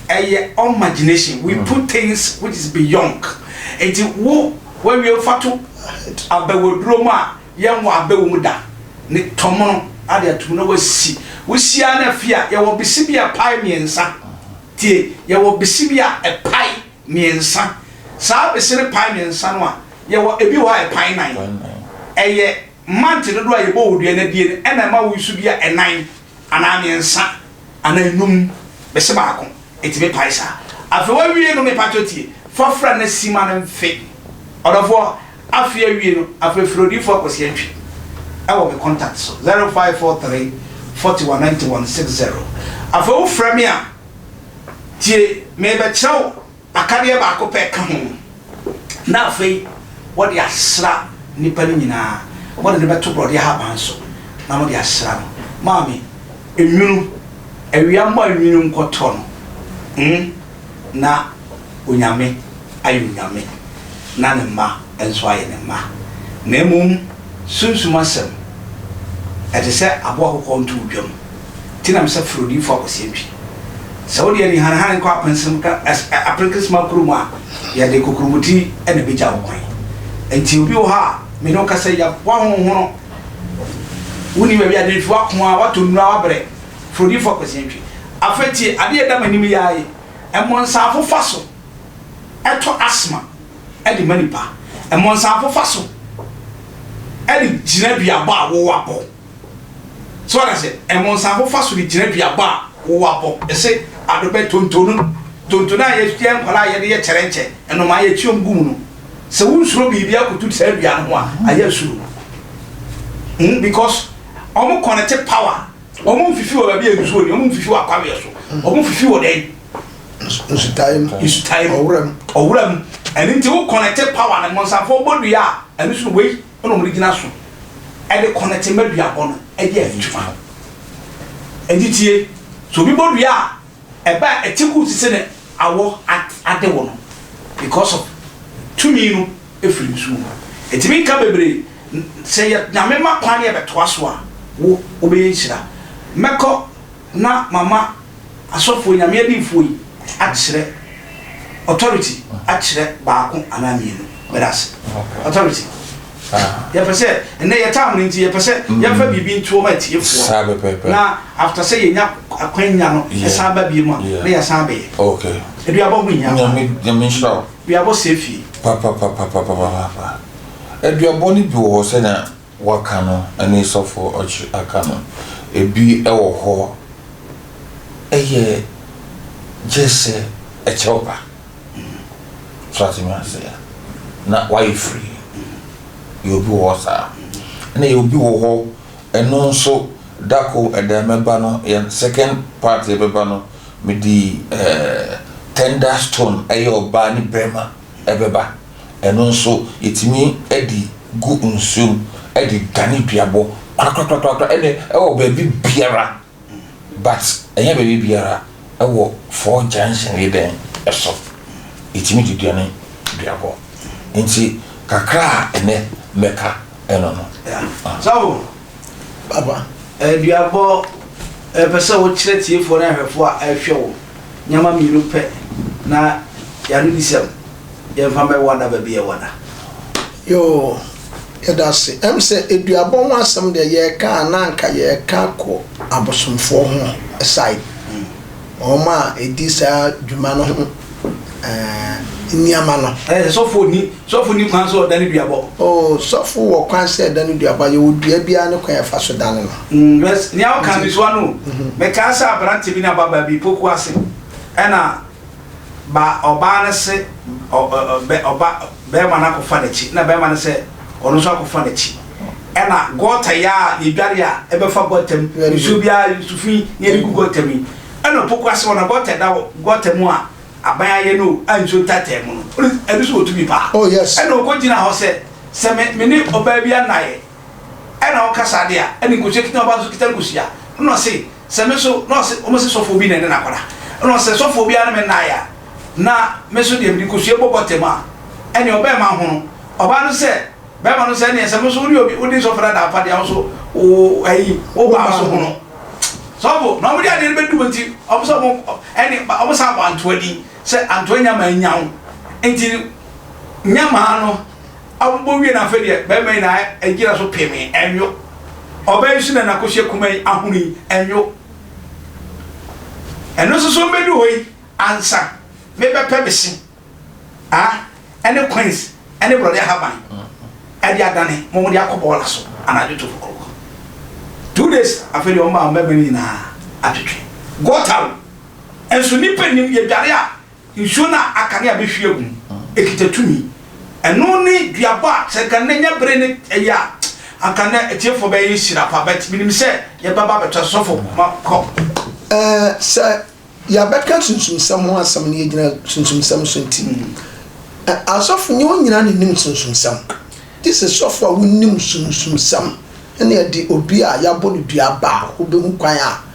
ɛyɛ imagination we hmm. put things which is beyond nti wo wɔawie fa to abɛwaduro mu a yɛnwɔ abɛwɔ mu da ne tɔmono ade atum na wasi wohyia no afie a yɛwɔ bese bi a pae mmiɛnsa tie yɛwɔ bese bi a ɛpae Mmiɛnsa. Saa besere pan mmiɛnsa no a, yɛwɔ ebi wɔ hɔ a ɛpan nan. Ɛyɛ mante dodoɔ a yɛbɔ wɔ dua no abie no ɛna ɛma woyi so bi a ɛnan anaa mmiɛnsa anaa nnum bese baako ɛtumi pae saa. Afei wawie no mepakyɛ tie fa fra na si ma no mfe ɔdɔfoɔ afei awie no afei frɛ odiyifoɔ akwasi antwi ɛwɔ me contact so 0543 41 91 60 afei wo frɛ me a. Tie, merebɛkyerɛ wo akadeɛ baako pɛ ka ho, na afei wɔde asra nnipa no nyinaa, wɔde no bɛto borɔdeɛ ahaban so na wɔde asra no. Maame, nwunu, awia mmɔ anwunu nkɔtɔ no, mm, na Onyame ayɛ Onyame, na Ne mma nso ayɛ Ne mma. Na mmom, sunsum asɛm, ɛte sɛ aboa kɔkɔɔ ntowdwam. Ti nam sɛ firi odiyifo akwasia ntwi. Sɛ wode anihanehane kɔ apɛnsem ka as ɛ aperekesema koro mu a, yɛde kokuromoti na ɛbɛgya wo kwan. Enti obi wɔ hɔ a me ne wo kasa yi, yɛab woahonhono. Wonni baabi a nantwi w'ako a woatɔ nnuru a woabrɛ. Firi odiyifo akwasia ntwi. Afei tie adeɛ a ɛda m'anim yi ara yi, Mmɔnsanfo fa so tɔ asthma de ma nnipa. Mmɔnsanfo fa so de gyina duabɔ a wowɔ abɔ. So wate aseɛ? Ɛmonsafo fa so de gyina duaba a wɔwɔ abɔ ɛse adobɛ tontonu no. Tontonu a yɛyɛ nkwadaa a yɛde yɛ kyɛrɛnkyɛ, nnomaa a yɛkyi wɔn gu mu no. Sɛ wonsuro biribi akoto saa dua no ho a, ayɛ asuro. Hmm, because wɔn connect power. Wɔn mfifi wɔ baabi a nsuo ni, wɔn mfifi wɔ akwaweɛ so, wɔn mfifi wɔ dɛn? Nsutae mu. Nsutae mu. Ɔwura mu. Ɔwura mu. Ɛno nti wo connect power no, mmonsafo bɔ dua a, ɛno so wei na wɔde gyina so de kɔnɛte ma duabɔ no de ayɛ adwuma. Enti tie, sɛ obi bɔ dua a, ɛba a ɛte kuu sese ne awɔ ade wɔ no because of tumi no firi ne so mu. Ɛtumi nka bebree, sɛ yɛ Nyame ma kwan na yɛbɛtoa so a, wo wobɛyɛ nhyira. Mɛkɔ. na mama asɔfoɔ, Nyame adiyifoɔ yi, akyerɛ, authority, akyerɛ baako anaa mmienu. Meda ase. Authority. Yɛpɛ sɛ, ɛnɛ yɛ time no nti, yɛpɛ sɛ yɛmfa biribi nto wɔn atiefoɔ. Saa pɛpɛɛpɛ. Na after sɛ yɛnya akwanya no, Yeah. ɛsan ba biem a, Yeah. na yɛasan abɛyɛ. Okay. Aduabɔ ho hia. Nyame, Nyame nhyira wo. Aduabɔ sɛe fie. Papapapapapapapa. Aduabɔ no bi wɔ hɔ sɛnea wɔaka no ne sɔfoɔ ɔkyere aka no, ebi wɔ hɔ yɛ gyesɛ ɛkyɛw ba. So ate me ase? Na wayɛ free. Yɛ obi wɔ hɔ saa. Ɛna yɛ obi wɔ hɔ, ɛno nso dako ɛda mɛba no, yɛn second part yɛbɛba no, mede ɛɛ tender stone ɛyɛ ɔbaa ne barima ɛbɛba. Ɛno nso yɛtumi de gu nsuo mu de dane duabɔ korakorakorakora ɛne ɛwɔ baabi biara but ɛnyɛ baabi biara ɛwɔ four junction yi dɛn ɛso yɛtumi de duane duabɔ nti kakra a ɛnɛ mɛka ɛno no. Sɔfo papa duabɔ ɛpɛ sɛ wokyerɛ tiefoɔ ne ahwɛfoɔ a ɛhwɛ wo nneɛma mmienu pɛ na yɛaredisɛm. Yɛmfa mɛ wada baabi yɛ wada. Yoo yɛdase ɛm sɛ eduabɔ ho asɛm deɛ yɛɛka a na anka yɛɛka kɔ abosomfoɔ ho side wɔn a ɛdi saa dwuma no ho ɛɛ nneɛma no. Ɛɛ sɔfo ni sɔfo ni kwan sɛ ɔdane duabɔ. Oo sɔfo wɔ kwan sɛ ɛdane duabɔ a yɛwɔ dua biara ne kwan yɛfa so dane no. Mm bɛs nea ɔka misoa no o mɛkaa sɛ aberante bi ne ababaa bi poku ase ɛna. Ba ɔbaa no se ɔ ɔ ɔ bɛ ɔba bɛɛma no akɔfa n'akyi na bɛɛma no sɛ ɔno nso akɔfa n'akyi ɛna gɔɔta yi a yɛdware a ɛbɛfa gɔɔta mu nsuo biara nsu fi na yɛde gu gɔɔta mu yi ɛna opoku ase hɔ na gɔɔta ɛda hɔ gɔɔta mu a aban ayɛ no o a nsuo ntaataa mu no ɔno ɛno nso wɔtu bi paa Oh yes. ɛna ɔkɔ gyina hɔ sɛ sɛ me me ne ɔbaa bi anayɛ ɛna ɔka saa de a ɛna nkosua kita ɔbaa nso kita nkosua ɛna ɔse Sɛ me nso, na ɔse wɔn se sɔfoɔ bi na ɛne no akɔda, ɛna ɔse sɛ sɔfoɔ biara ne me nnaeɛ a, na me nso deɛ mede kosua bɔ bɔtɛm a, ɛneɛ ɔbɛɛma hono. Ɔbaa no se bɛɛma no sɛ ɛneɛ sɛ mo nso wone obi, wode sɔfo dada afa deɛ wo nso wo ayi, wo baa nso hono. Sɔfo, na wɔn de adeɛ no bɛdum nti, wɔn sɛ wɔn, ɛne, wɔn san bɔ Antoa din sɛ Antoa nyamaa nyaw nti nyamaa no abobɔ wie no afei deɛ bɛrima yi na agyina so pemee ɛnwo ɔbaa yi so na nakɔhyɛ kuma yi ahono yi ɛnwo ɛno nso so mbɛdu hɔ yi ansa mebɛpɛ me se a ɛne coins ɛne borɔde ahaban ɛde adane mo mo de akɔ bɔɔla so anadwo to fokorokɔ two days afei deɛ ɔma ɔmɛma no nyinaa atwetwe gɔta o ɛnso nipa nim yɛdware a Nsuo no a aka ne a bɛhwie agu no, ɛkita tumi. Ɛno ne duabɔ a sɛ nka nnɛ nya bere ne ɛyɛ a, anka nnɛ atiefoɔ bɛyɛ nhyira pa, but menim sɛ yɛbɛba abɛtoa so. Sɔfo ma kɔ. Ɛɛ, sɛ yɛabɛka sunsumsɛm ho asɛm na yɛgyina sunsumsɛm so nti, ɛ, asɔfo nyɛ wɔn nyinaa na ɛnim sunsumsɛm. Gye sɛ sɔfo a wonim sunsumsɛm na ɛde obi a yɛabɔ no dua ba a, wobɛhu kwan a.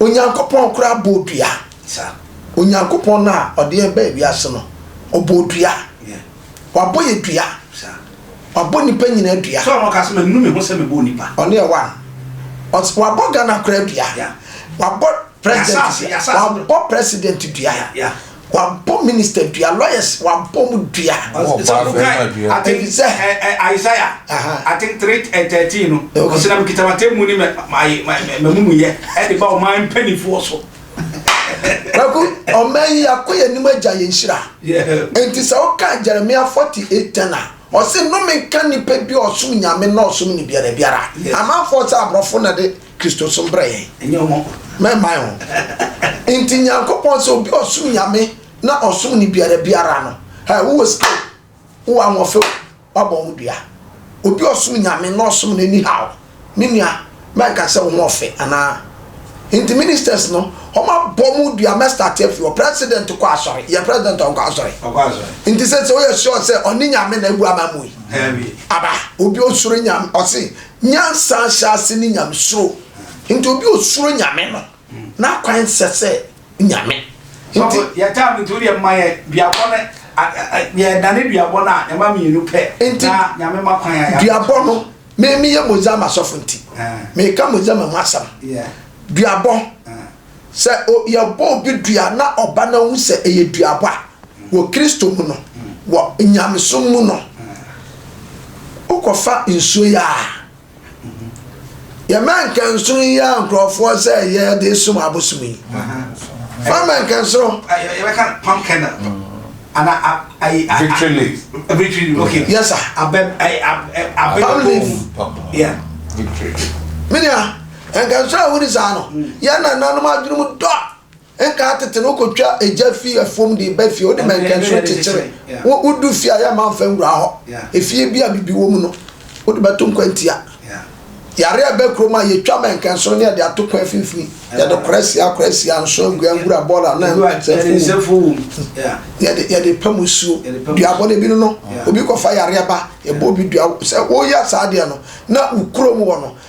Onyankopɔn koraa bɔɔ dua. Onyankopɔn no a ɔde yɛn baa wiase no, ɔbɔɔ dua. Wabɔ yɛ dua. Wabɔ nipa nyinaa dua. Sɛ ɔno kasa menu me ho sɛ mebɔ nipa. Ɔno yɛ one. Ɔs wabɔ Ghana koraa dua. Wabɔ president dua. Wabɔ president dua. Wɔabɔ minister dua, lawyers wɔabɔ mu dua. Sɔfo kae efisɛ. Isaiah aten three and thirteen no, ɔsɛ na mekita m'atemmu ne m'amumuyɛ de ba ɔman mpanimfoɔ so. Kwaku, ɔman yi akɔ yɛn anim agya yɛn nhyira. Enti sɛ woka Jeremia forty eight ten a, ɔse nnome nka nnipa bi a ɔsom nyame na ɔsom ne biara biara. Amanfoɔ sɛ aborɔfo na de Kristosom brɛ yɛn. Ɛnyɛ wɔn. Mɛmmae o. Nti Nyankopɔn sɛ obi ɔsom Nyame na ɔsom ne biara biara no, hɛ, wowɔ sika o, wowɔ ahoɔfɛ o, wabɔ wo dua. Obi ɔsom Nyame na ɔsom no anyhow, me nua, mɛnka sɛ wo ho ɔfɛ anaa. Nti ministers no, wɔn abɔ mo dua, mɛ start afi hɔ. President kɔ asɔre, yɛ president ɔnkɔ asɔre. Ɔkɔ asɔre. Nti sɛ sɛ woyɛ sure sɛ ɔne Nyame na abu ama mo yi, aba, obi ɔsuro Nyame, ɔse Nyansa ahyɛase ne Nyamesuro, nti obi a osuro Nyame no, n'akwan sɛ sɛ Nyame. Nti. Yɛ time nti wodeɛ mma yɛ duabɔ no yɛ dane duabɔ no a yɛma mmienu pɛ na Nyame ma kwan a Duabɔ no, me meyɛ Mozama sɔfo nti, meka Mozama mu asɛm. Duabɔ. Sɛ o yɛbɔ obi dua na ɔba na ohu sɛ ɛyɛ duabɔ a, wɔ Kristo mu no, wɔ nyamesom mu no, wokɔfa nsuo yi a, yɛma nkansono yi a nkurɔfoɔ sɛ yɛde som abosom yi. Fa ma nkansono. Yɛbɛka palm kernel. Ana ayi. Victory leaf. Victory leaf, okay. Yes, sir. Abɛ, ayi, abɛ. Palm leaf. Yeah. Victory. Minia, Anka nsɔre a wodi saa no, yɛn nananom adwenem dɔ a nka atete no wokotwa egya fi afuom de ba fie, wode mɛnkɛnso kyekyere, wodu fie a yɛmma mfa nwura hɔ, efie bi a bibi wom no wode bɛto nkwantia, yare a ɛba kurom a yetwa mɛnkɛnso ne yɛde ato kwan mfimfini, yɛde korasia korasia, nso angua ngura bɔɔla a na nsɛfo wom, yɛde pam nsuo, duabɔ no bi no no obi kɔfa yareɛ ba yɛbɔ obi dua, sɛ woyɛ saa adeɛ no na wo kurom hɔ no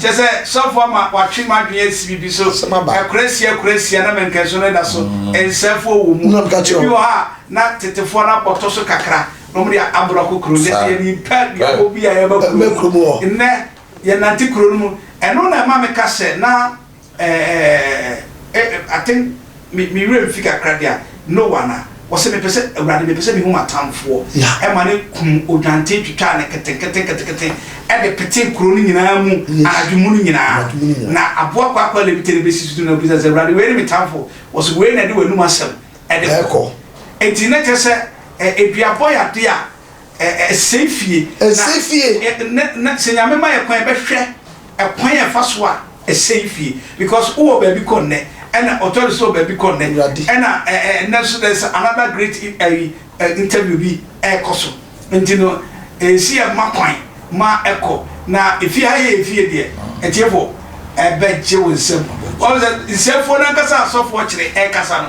Kyerɛ sɛ, sɔfo ama watwe m'adwene asi biribi so. Asɛm aba. Akurasia akurasia na mɛnkɛnso no da so. Nsɛfoɔ wɔ mu. Na meka kyerɛ Ebi wo. wɔ hɔ a, na tetefoɔ no abɔtɔ so kakra, na wɔn de aborɔ kɔ kuro no. Saa. Yɛn nyimpa aduabɔ bi a yɛba kuro Ɛmmɛ kurom hɔ. no. Nnɛ, yɛnante kuro no mu. Ɛno na ɛma meka sɛ, na. Ɛɛɛɛɛɛɛ eh I think me me werɛ mfi kakra deɛ a Noah ana? Ɔse mepɛ sɛ Awurade mepɛ sɛ mehu m'atamfoɔ Yeah. ɛma ne kunu odwanten twitwaa no ketenketenketenketen ɛde petee kuro no nyinaa mu Yes. anadwo mu no nyinaa Anadwo mu no nyinaa. na aboa kwaakwa lebite no bɛsi so no obisa sɛ Awurade wei ne me tamfo ɔse wei na ɛde w'anum asɛm ɛde Ɛkɔ. Enti na kyerɛ sɛ ɛ aduabɔ yɛ adeɛ a. Ɛsɛe fie. Ɛsɛe fie. Na na sɛ Nyame ma yɛ kwan yɛbɛ hwɛ ɛkwan a yɛfa so a ɛsɛe fie because wo wɔ baabi kɔ nnɛ ɛna ɔtɔre nso wɔ baabi kɔ nnɛ Awurade. ɛna ɛ ɛ nnɛ nso there is another great i- ayi ɛ interview bi ɛɛkɔ so nti no ɛnsi yɛ mma kwan ma ɛkɔ na efie ha yɛ yɛ fie deɛ atiefo ɛbɛ gye wo nsam wɔn sɛ nsɛmfoɔ no ankasa a asɔfoɔ kyerɛ ɛɛkasa no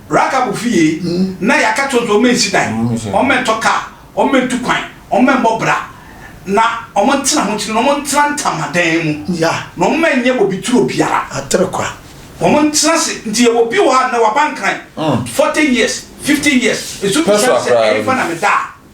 Rahab fie, na yɛaka akyerɛ wɔn sɛ wɔnsi dan, wɔntɔ kaa, wɔntu kwan, wɔmmɔ bra, na wɔntena ho nkyene, na wɔntena ntamadan mu, na wɔnyɛ bobeturo biara. Atere kwa. Wɔntena ase. Nti yɛwɔ bi wɔ ha a, nnɛ waba nkran, forty years, fifty years, nso bisa no sɛ, Ɛhefa na meda a?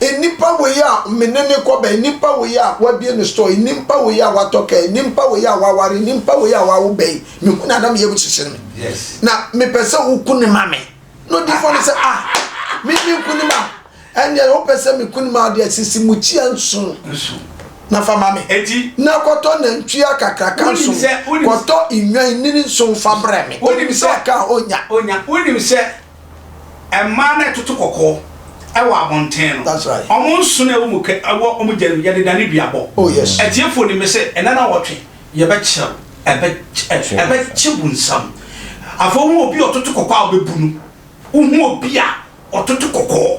Nnipa wei a me ne no kɔba, nnipa wei a wabue ne store, nnipa wei a watɔ kaa, nnipa wei a waware, nnipa wei a wawo ba yi, mehu no a na me yam kyekyere me. Na mepɛ sɛ woku no ma me. Na odiyifoɔ no sɛ, ah, me menku no ma. Ɛnneɛ wopɛ sɛ meku no ma wo deɛ, sisi mukyia nson na fa ma me. Na kɔtɔ nantwie kakraka nson, kɔtɔ nnwan nini nson fa brɛ me. Wonim sɛ ɔka a ɔnya. Wonim sɛ Mmaa na ɛtoto kɔkɔɔ wɔ abɔnten no. That's right. Wɔn nsono a ɛwɔ mu kɛ ɛwɔ wɔn gya no mu, yɛde dane duabɔ. Oh, yes. Atiefoɔ nim me sɛ ɛna na wɔtwe yɛbɛkyerɛw ɛbɛ ɛ ɛbɛkye wo nsam. Afei wohu obi a ɔtoto kɔkɔɔ a wobɛbu no. Wohu obi a ɔtoto kɔkɔɔ.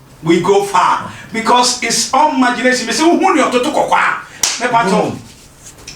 We go far because it's all imagination mesi wo hu ne ɔtoto kɔkɔ a me pa to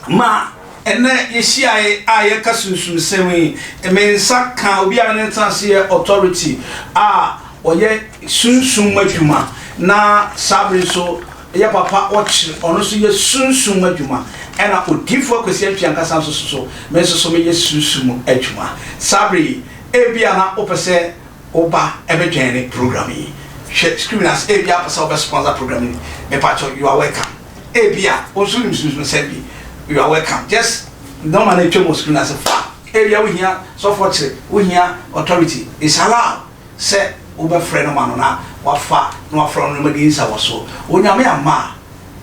ma ɛnɛ yɛhyiae a yɛka sunsum sɛm yi me nsa ka obi a ne nsa ase yɛ authority a ɔyɛ sunsum mu adwuma na saa bere nso yɛ papa ɔkyere ɔno nso yɛ sunsum mu adwuma ɛna odiifo akwasi atwi ankasa nso so me nso so meyɛ sunsum mu adwuma saa bere yi ebi a na wopɛ sɛ Wo ba bɛ joine program yi. Hwɛ screen no ase, ebia wopɛ sɛ wobɛ sponsor program yi, mepakyɛw you are welcome. Ebia wo nso wonim sunsumsɛm bi, you are welcome. Just nɔma no atwam wɔ screen no ase fa. Ebia wohia sɔfoɔ kyere, wohia authority, it's allowed sɛ wobɛfrɛ no ma no na wafa na wafrɛ wo no na moadi nsawɔsoɔ. Onyame amma a.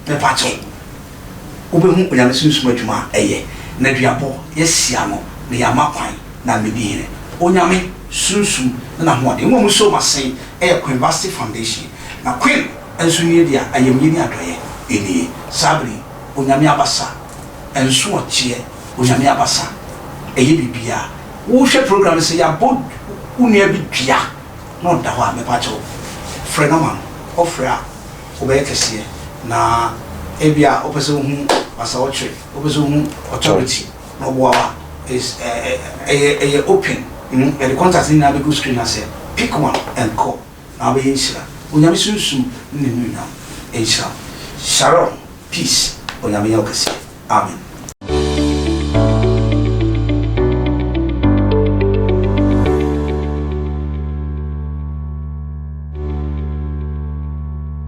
Mepakyɛw, wobɛhu Onyame Sunsum adwuma a ɛyɛ, na duabɔ, yɛahyia no, na yɛama kwan, na medi hene. Onyame, Sunsum, ne N'ahoɔden mmom nso ma sen, ɛyɛ Queen Vashti Foundation, na Queen nso nie deɛ a ayamyie ne adɔeɛ nie. Saa bere yi, Onyame abasa, nso ɔkyeɛ, Onyame abasa, ɛyɛ biribiara. Wohwɛ program no sɛ yɛabɔ wo nua bi dua na ɔda hɔ a, mepakyɛw, frɛ no ma no, ɔfrɛ a. wobɛyɛ kɛseɛ na ebia wopɛ sɛ wohu masawokyerɛ wopɛ sɛ wohu authority na ɔboa wa is ɛyɛ ɛyɛ open mm, yɛde contact ne nyinaa bɛgu screen aseɛ pick one and call na wobɛyɛ nhyira onyame sunsum ne ne nuonyam nhyira sharon peace onyame yɛ wo kɛseɛ amen.